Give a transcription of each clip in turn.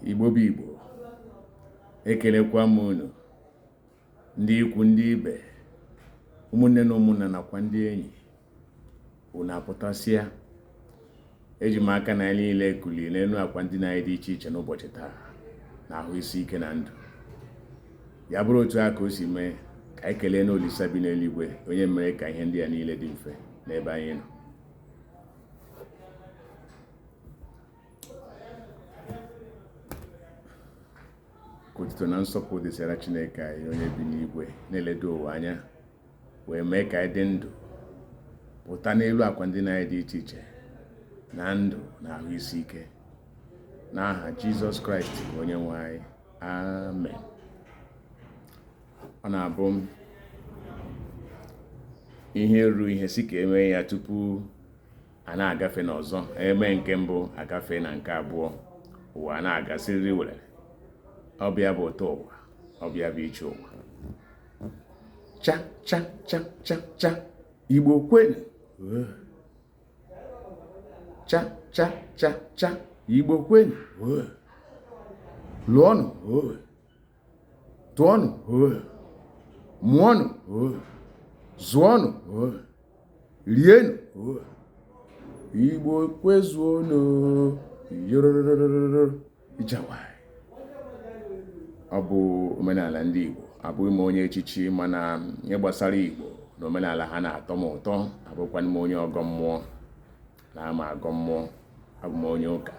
igbo bụ igbo ekelekwa m unu ndị ikwu ndị ibe ụmụnne na ụmụnna nakwa ndị enyi unu apụtasịa eji m aka na niile ekulie n'elu akwa ndina anyị dị iche iche n'ụbọchị taa na ahụ isi ike na ndụ ya bụrụ otu a ka o si mee ka anyị keleenụ olisa bi n'eluigwe onye mere ka ihe ndị a niile dị mfe n'ebe anyị nọ otuto na nsọpụrụ dịsịara chineke anyị onye bi n'igwe na-eledo ụwa anya wee mee ka anyị dị ndụ pụta n'elu akwa ndina anyị dị iche iche na ndụ na ahụ isi ike n'aha jizọs kraịst bụ onye nwe anyị amen ọ na-abụ ihe ruo ihe si ka emee ya tupu a na-agafe n'ọzọ eme nke mbụ agafe na nke abụọ ụwa ana-aga siriri werere ọ bụ ya bụ ụtọ ụwa ọ bụ ya bụ iche ụwa cha cha cha cha cha igbo kwenu cha cha cha cha igbo kwenu lụọnụ tụọnụ o mụọnụ o zụọnụ o rienụ o igbo kwezuonụ yorororororo ijawai ọ bụ omenala ndị igbo abụghị m onye echichi mana ihe gbasara igbo na omenala ha na-atọ m ụtọ abụkwanụ m onye ọgọ mmụọ anaghị m agọ mmụọ abụ m onye ụka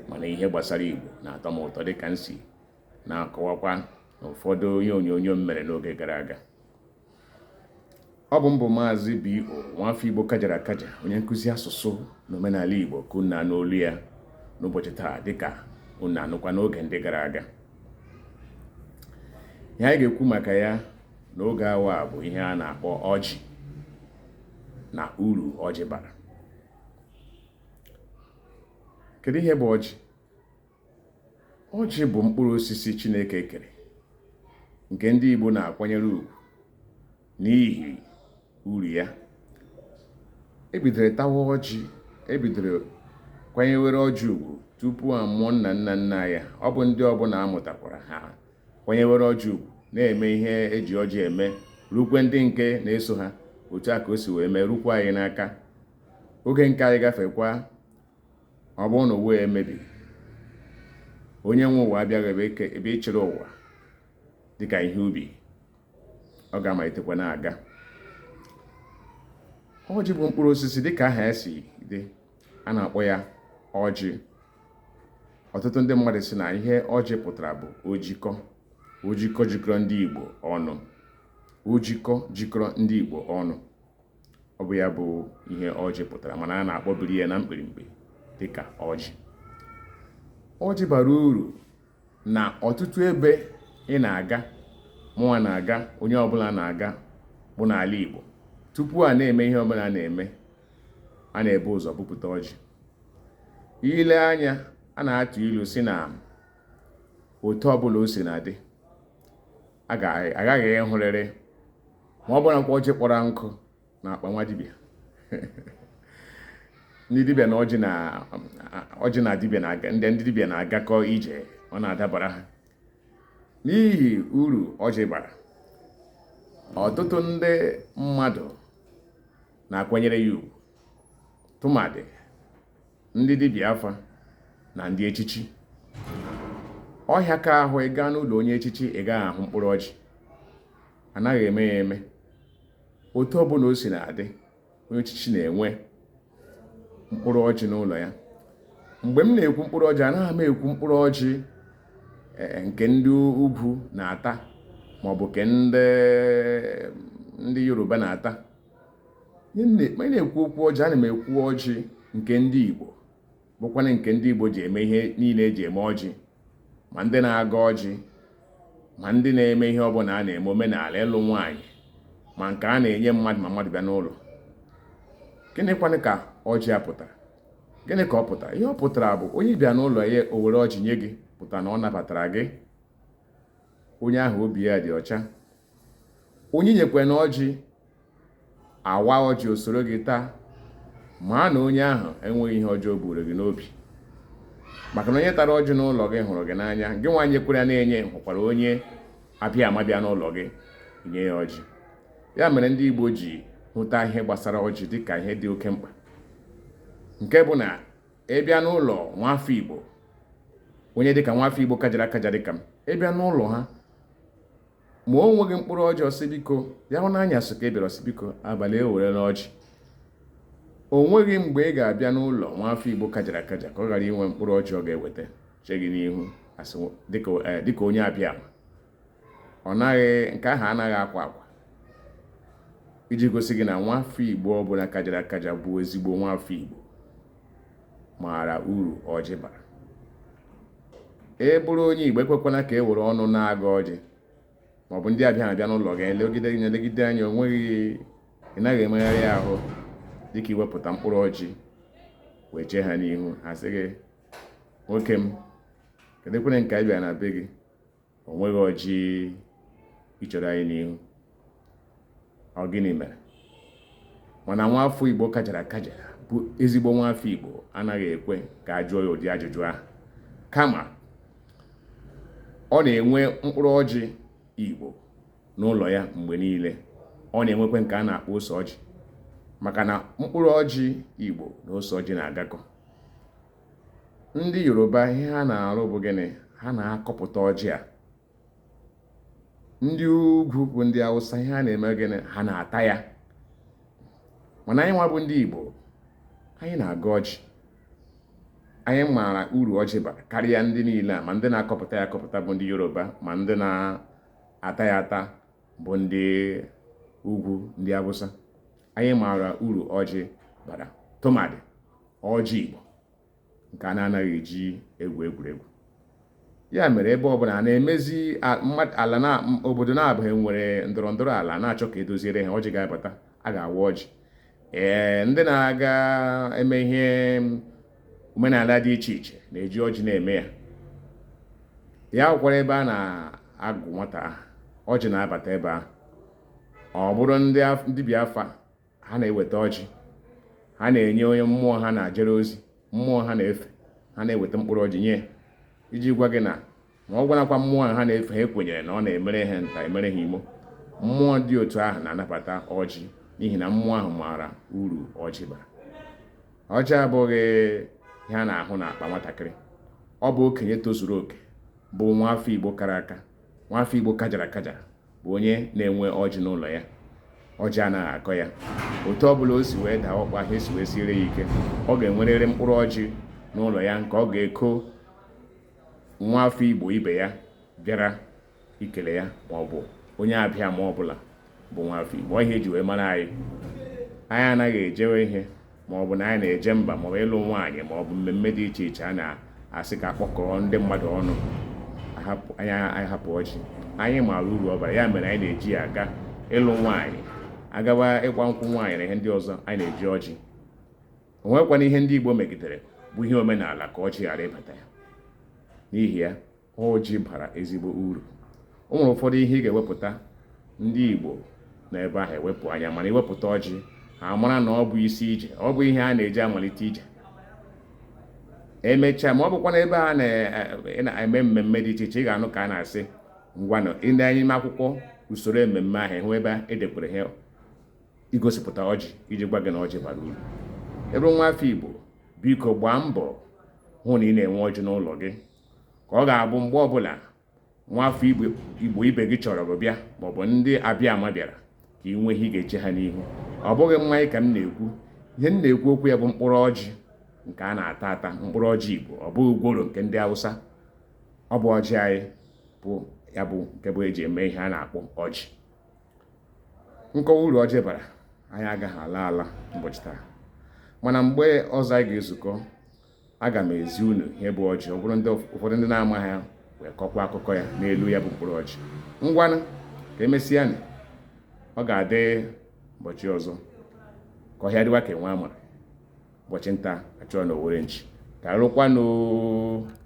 mana ihe gbasara igbo na-atọ m ụtọ dịka m si na-akọwakwa n'ụfọdụ ihe onyonyo m mere n'oge gara aga ọ bụ m bụ maazị B.O. nwafọ Igbo kajara akaja onye nkụzi asụsụ na omenala Igbo ka unu na-anụ olu ya n'ụbọchị taa dịka unu na-anụkwa n'oge ndị gara aga ihe anyị ga-ekwu maka ya n'oge awa bụ ihe a na-akpọ ọjị na uru ọjị bara kedu ihe bụ ọjị ọjị bụ mkpụrụ osisi Chineke kere nke ndị Igbo na-akwanyere ugwu n'ihi uru ya ebidoro tawa ọjị ebidoro kwanyewere ọjị ugwu tupu a mụọ nna nna nna ya ọ bụ ndị ọbụla amụtakwara ha kwanyewere ọjị ugwu na-eme ihe eji ọjị eme rukwe ndị nke na-eso ha otu a ka o si wee mee rukwa anyị n'aka oge nke anyị gafekwa ọ bụrụ na ụwa emebi onye nwe ụwa abịabeghị ịchịrị ụwa dịka ihe ubi ọ ga-amalitekwa na-aga ọjị bụ mkpụrụ osisi dịka aha ya si dị a na-akpọ ya ọjị ọtụtụ ndị mmadụ sị na ihe ọjị pụtara bụ ojikọ ojikọ jikọrọ ndị Igbo ọnụ ojikọ jikọrọ ndị Igbo ọnụ ọ bụ ya bụ ihe ọjị pụtara mana a na-akpọbiri ya na mkpirimkpi dịka ọjị ọjị bara uru na ọtụtụ ebe ị na-aga mụnwa na-aga onye ọbụla na-aga bụ n'ala Igbo tupu a na-eme ihe ọbụla a na-eme a na-ebu ụzọ bupụta ọjị i lee anya a na-atụ ilu sị na otu ọbụla o si na-adị aghaghị ịhụrịrị ma ọ bụrụ na ọjị kpọrọ nkụ na akpa nwa dibịa ndị dibịa na ọjị na ọjị na dibịa na-aga ndị ndị dibịa na-agakọ ije ọ na-adabara ha n'ihi uru ọjị bara ọtụtụ ndị mmadụ na-akwanyere ya ugwu tụmadị ndị dibịa afa na ndị echichi ọ hịaka ahụ ị gaa n'ụlọ onye echichi ị gaghị ahụ mkpụrụ ọjị anaghị eme ya eme otu ọbụla o si na-adị onye echichi na-enwe mkpụrụ ọjị n'ụlọ ya mgbe m na-ekwu mkpụrụ ọjị anaghị m ekwu mkpụrụ ọjị e, e, nke ndị ugwu na-ata maọbụ nke ndị yoruba na-ata ma ị na-ekwu okwu ọjị ana m ekwu ọjị nke ndị Igbo bụkwana nke ndị Igbo ji eme ihe niile e ji eme ọjị ma ndị na-agọ ọjị ma ndị na-eme ihe ọbụla a na-eme omenala ịlụ nwaanyị ma nke a na-enye mmadụ ma mmadụ bịa n'ụlọ gịnịkwanụ ka ọjị a pụtara gịnị ka ọ pụtara ihe ọ pụtara bụ onye bịa n'ụlọ ya o were ọjị nye gị pụtara na ọ nabatara gị onye ahụ obi ya dị ọcha onye nyekwanụ ọjị a waa ọjị o soro gị taa mara na onye ahụ enweghị ihe ọjọọ o buuru gị n'obi maka na onye tara ọjị n'ụlọ gị hụrụ gị n'anya gịnwa nyekwara ya na-enye hụkwara onye abịama bịa n'ụlọ gị nye ya ọjị ya mere ndị Igbo ji hụta ihe gbasara ọjị dịka ihe dị oke mkpa nke bụ na ị bịa n'ụlọ nwafọ Igbo onye dịka nwafọ Igbo kajara akaja dịka m ị bịa n'ụlọ ha ma o nweghị mkpụrụ ọjị ọ sị biko ya bụ n'anyasị ka ị bịara ọ sị biko abalị ewerena ọjị o nweghị mgbe ị ga-abịa n'ụlọ nwa afọ igbo kajara akaja ka ọ ghara inwe mkpụrụ ọjị ọ ga-eweta chee gị n'ihu eh, dịka onye abịama ọ naghị nke ahụ anaghị akwa akwa iji gosi gị na nwa afọ igbo ọbụla kajara akaja bụ ezigbo nwa afọ igbo maara uru ọjị bara ị bụrụ onye Igbo ekwekwana ka e were ọnụ na-agọ ọjị maọbụ ndị abịa abịa n'ụlọ gị elegide gị elegide anya onweghị ị naghị emegharị ahụ dịka iwepụta mkpụrụ ọjị wee chee ha n'ihu ha sị gị nwoke m kedụkwere nke anyị bịara na be gị o nweghị ọjị i chere anyị n'ihu ọ gịnị mere mana nwa afọ igbo kajara akaja bụ ezigbo nwa afọ igbo anaghị ekwe ka a jụọ ya ụdị ajụjụ ahụ kama ọ na-enwe mkpụrụ ọjị igbo n'ụlọ ya mgbe niile ọ na-enwekwe nke a na-akpọ ose ọjị maka na mkpụrụ ọjị igbo na ose ọjị na-agakọ ndị yoruba ihe ha na-arụ bụ gịnị ha na-akọpụta ọjị a ndị ugwu bụ ndị awụsa ihe ha na-eme gịnị ha na-ata ya mana anyị nwa bụ ndị igbo anyị na-agọ ọjị anyị maara uru ọjị bara karịa ndị niile a ma ndị na-akọpụta ya akọpụta bụ ndị yoruba ma ndị na-ata ya ata bụ ndị ugwu ndị awụsa anyị maara uru ọjị bara tụmadị ọjị Igbo nke a na-anaghị eji egwu egwuregwu ya mere ebe ọbụla a na-emezi ala na obodo naabọ nwere ndọrọ ndọrọ ala na-achọ ka e doziere ha ọjị ga-abata a ga-awa ọjị ee ndị na-aga eme ihe omenala dị iche iche na-eji ọjị na-eme ya ya bụkwara ebe a na-agụ nwata aha ọjị na-abata ebe ahụ ọ bụrụ ndị dibịa afa ha na-eweta ọjị ha na-enye onye mmụọ ha na-ajere ozi mmụọ ha na-efe ha na-eweta mkpụrụ ọjị nye iji gwa gị na ma ọbụnakwa mmụọ ha na-efe ha kwenyere na ọ na-emere ha nta emere ha imo mmụọ dị otu ahụ na-anabata ọjị n'ihi na mmụọ ahụ maara uru ọjị bara ọjị abụghị ihe a na-ahụ na akpa nwatakịrị ọ bụ okenye tozuru oke bụ nwa afọ igbo kara aka nwa afọ igbo kajara akajara bụ onye na-enwe ọjị n'ụlọ ya ọjị anaghị akọ ya otu ọ bụla o si wee daa ụkpa ihe si wee siere ya ike ọ ga-enwerịrị mkpụrụ ọjị n'ụlọ ya nke ọ ga-eko nwa afọ igbo ibe ya bịara ikele ya ma ọ bụ onye abịa ma ọ bụla bụ nwa afọ igbo ihe e ji wee mara anyị anyị anaghị ejewe ihe ma ọ bụ na anyị na-eje mba ma ọ bụ ịlụ nwaanyị ma ọ bụ mmemme dị iche iche a na-asị ka a kpọkọọ ndị mmadụ ọnụ anyị hapụ ọjị anyị maara uru ọ bara ya mere anyị na-eji ya aga ịlụ nwaanyị agaba ịgba nkwụ nwaanyị na ihe ndị ọzọ anyị na-eji ọjị onwekwana ihe ndị Igbo megidere bụ ihe omenala ka ọjị ghara ịbata ya n'ihi ya ọjị bara ezigbo uru o nwere ụfọdụ ihe ị ga-ewepụta ndị Igbo na ebe ahụ ewepụ anya mana iwepụta ọjị ha mara na ọ bụ isi ije ọ bụ ihe a na-eji amalite ije emechaa ma ọ bụkwa na ebe a na-eme mmemme dị iche iche ị ga-anụ ka a na-asị ngwanụ lee anya n'ime akwụkwọ usoro ememme ahụ hụ ebe edekọrọ ihe igosipụta ọjị iji gwa gị na ọjị bara uru ị bụrụ nwa afọ Igbo biko gbaa mbọ hụ na ị na-enwe ọjị n'ụlọ gị ka ọ ga-abụ mgbe ọbụla nwafọ igbo ibe gị chọrọ gị bịa maọbụ ndị abịa ama bịara ka ị nwee ihe ị ga-eche ha n'ihu ọ bụghị mmanya ka m na-ekwu ihe m na-ekwu okwu ya bụ mkpụrụ ọjị nke a na-ata ata mkpụrụ ọjị igbo ọ bụghị gworo nke ndị hausa ọ bụ ọjị anyị bụ ya bụ nke bụ eji eme ihe a na-akpọ ọjị nkọwa uru ọjị bara anyị agaghị ala ala ụbọchị taa mana mgbe ọzọ anyị ga-ezukọ aga m ezi unu ihe bụ ọjị ọ bụrụ ụfọdụ ndị na-amaghị ya wee kọkwa akụkọ ya n'elu ya bụ mkpụrụ ọjị ngwanụ ka emesịanụ ọ ga-adị ụbọchị ọzọ ka ọhịa dịwa ka enwe amara ụbọchị nta achụwa na owere nchi garukwanụ